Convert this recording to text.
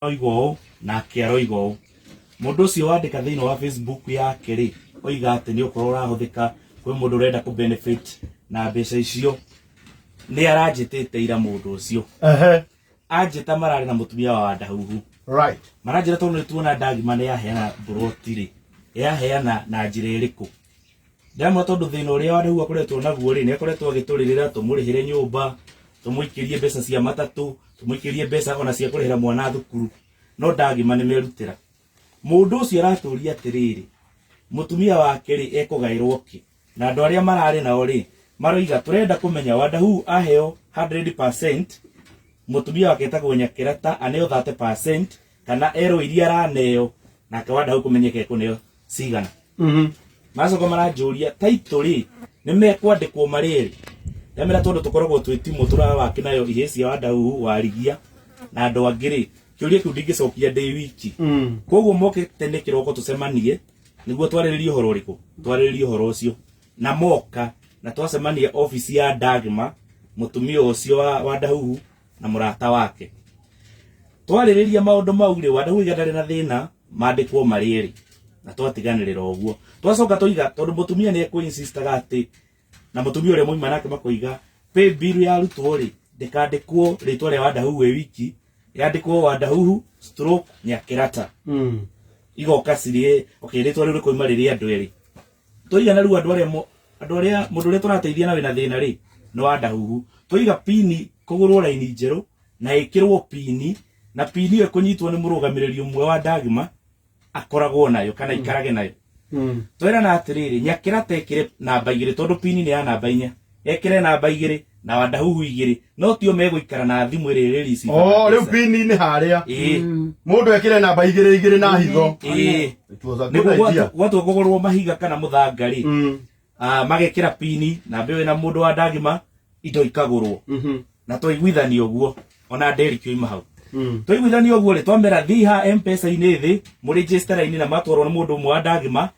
Oiga ũũ nake aroiga ũũ. Mũndũ ũcio wandĩka thĩinĩ wa Facebook yake rĩ, oiga atĩ nĩ ũkorwo ũrahũthĩka kwĩ mũndũ ũrenda kũ benefit na mbeca icio. Nĩ aranjĩtĩte ira mũndũ ũcio. Ehe. Anjĩta mararĩ na mũtumia wa Wandahuhu. Right. Maranjĩra tondũ nĩ tuona Ndagima nĩ yaheana mburoti rĩ, yaheana na njĩra ĩrĩkũ? Ndemwa tondũ thĩna ũrĩa wa Ndau akoretwo naguo-rĩ, nĩ akoretwo agĩtũrĩrĩra, tũmũrĩhĩre nyũmba, tũmũikĩrie mbeca cia matatũ, tũmũikĩrie mbeca ona cia kũrĩhĩra mwana thukuru, no ndagima nĩ merutĩra. Mũndũ ũcio aratũũria atĩrĩrĩ, mũtumia wake-rĩ, ekũgaĩrwo kĩ? Na andũ arĩa mararĩ nao-rĩ, maroiga, tũrenda kũmenya Wandahuu aheo 100%, mũtumia wake etagwo Nyakĩrata aneo 30%, kana ero iria araneo nake wanda kumenyeka ekuneo cigana Mhm. macoka maranjũria taitũ rĩ nĩ mekwandĩkwo marĩ erĩ ndamera tondũ tũkoragwo twĩ timũ tũrawaki nayo ihĩ cia wandau warigia na andũ angĩ rĩ kĩũria kĩu ndingĩcokia ndĩ wiki Mm. koguo moke tene kĩroko tũcemanie nĩguo twarĩrĩrie ũhoro ũrĩkũ twarĩrĩrie ũhoro ũcio na moka na twacemania ofici ya ndagma mũtumia ũcio wa, wa ndahuhu na mũrata wake twarĩrĩria maũndũ mau rĩ wandauiga ndarĩ na thĩna mandĩkwo marĩ erĩ na twatiganĩrĩra ũguo twacoka tũiga tondũ mũtumia nĩ ekwĩinsistaga atĩ na mũtumia ũrĩa mwaima nake makoiga pay bill ya arutwo rĩ ndĩkandĩkwo rĩtwa rĩa wandahuhu ĩ wiki yandĩkwo wandahuhu stroke nyakĩrata igoka cirĩ okay rĩtwa rĩu rĩkoima rĩrĩ andũ erĩ Tũigana rĩu andũ arĩa mo- andũ arĩa mũndũ ũrĩa tũrateithia na wĩna thĩna rĩ nĩ wa ndahuhu twaiga pini kũgũrwo raini njerũ na ĩkĩrwo pini na pini ĩyo ĩkũnyitwo nĩ mũrũgamĩrĩri ũmwe wa ndagima akoragwo nayo kana ikarage nayo twerana atĩrĩrĩ nyakĩra tekĩre namba igĩrĩ tondũ pini nĩ ya namba inya ekire namba igiri na wandahuhu igiri no tio meguikara na thimu iri iri risi oh riu pini ni haria eh mundu ekire namba igiri igiri na hitho eh niguo gwatu kugurwo mahiga kana muthanga ri mm. ah, magekira pini na mbewe na mundu wa ndagima indo ikagurwo mhm. na twaiguithania guo ona nderi kiuma hau mm. twaiguithania guo ri twamera thiha mpesa ini thi muri register ini na matwarwo na mundu mwa ndagima